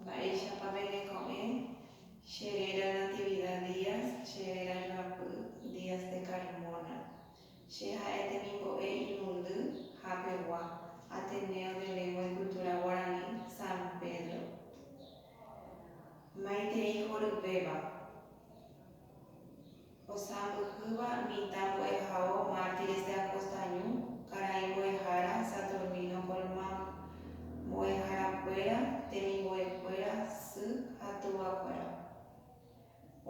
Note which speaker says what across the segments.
Speaker 1: Mba'éichapa peneko'ẽ che réra Natividad Díaz, che réra joapy Díaz de Carmona. Che ha'e temimbo'e irundy hapegua Ateneo de Lengua y Cultura Guaraní San Pedro. Maitei horyvéva. Osãmbyhýva mitã mbo'ehao mártires de Acostañu, karai mbo'ehára Saturnino Colmán, mbo'eharakuéra, temimbo'ekuéra, sy ha tuvakuéra.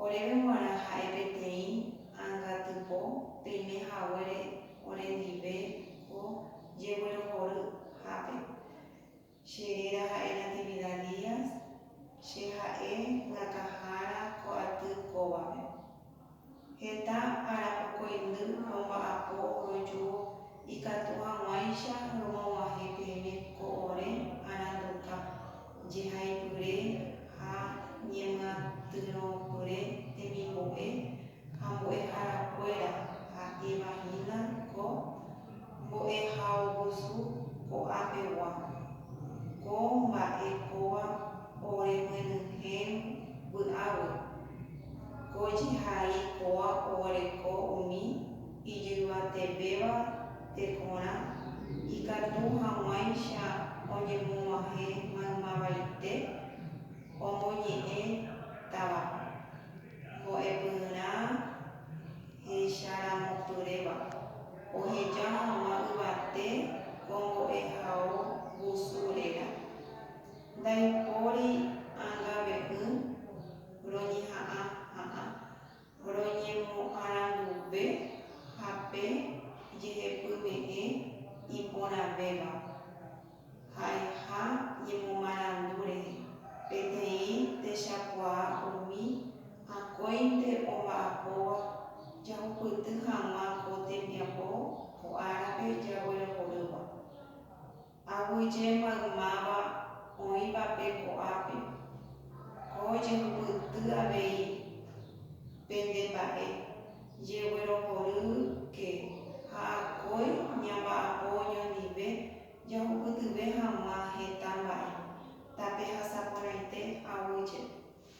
Speaker 1: Oréve g̃uarã ha'e peteĩ angatypo peime haguére orendive ko jeguerohory hápe, Che réra ha'e Natividad Díaz, che ha'e Rakãhára ko aty kóvape. Heta arapokuaindy romba'apo roju ikatu hag̃uáicha romog̃uahẽ peẽme ko ore aranduka jehaipyre ha ñemyatyrõpyre temimbo'e, ha mbo'eharakuéra ha'éva hína ko mbo'ehaovosu ko'ãpegua, ko mba'e kóva oremyenyhẽrõ vy'águi, ko jehai kóva oguereko umi ijyvatevéva tekorã ikatu hag̃uáicha oñemoguahẽ maymavaite omoñe'ẽ távape. Mbo'epyrã hecharamopyréva, oheja hag̃ua yvate ko mbo'ehao vusu réra. Ndaipóri angave'ỹ roñeha'ã ha'ã, roñemoaranduve ha pe jehepyme'ẽ iporãvéva. Ha'eha ñemomarandu rehe, peteĩ techakuaa umi akóinte omba'apóva jahupyty hag̃ua ko tembiapo ko árape jaguerohorýva. Aguyje maymáva oĩva pe ko'ápe, ko jehupyty avei pende mba'e Jeguerohoryke ha akói ñamba'apo oñondive jahupytyve hag̃ua heta mba'e, tape hasaporãite aguyje.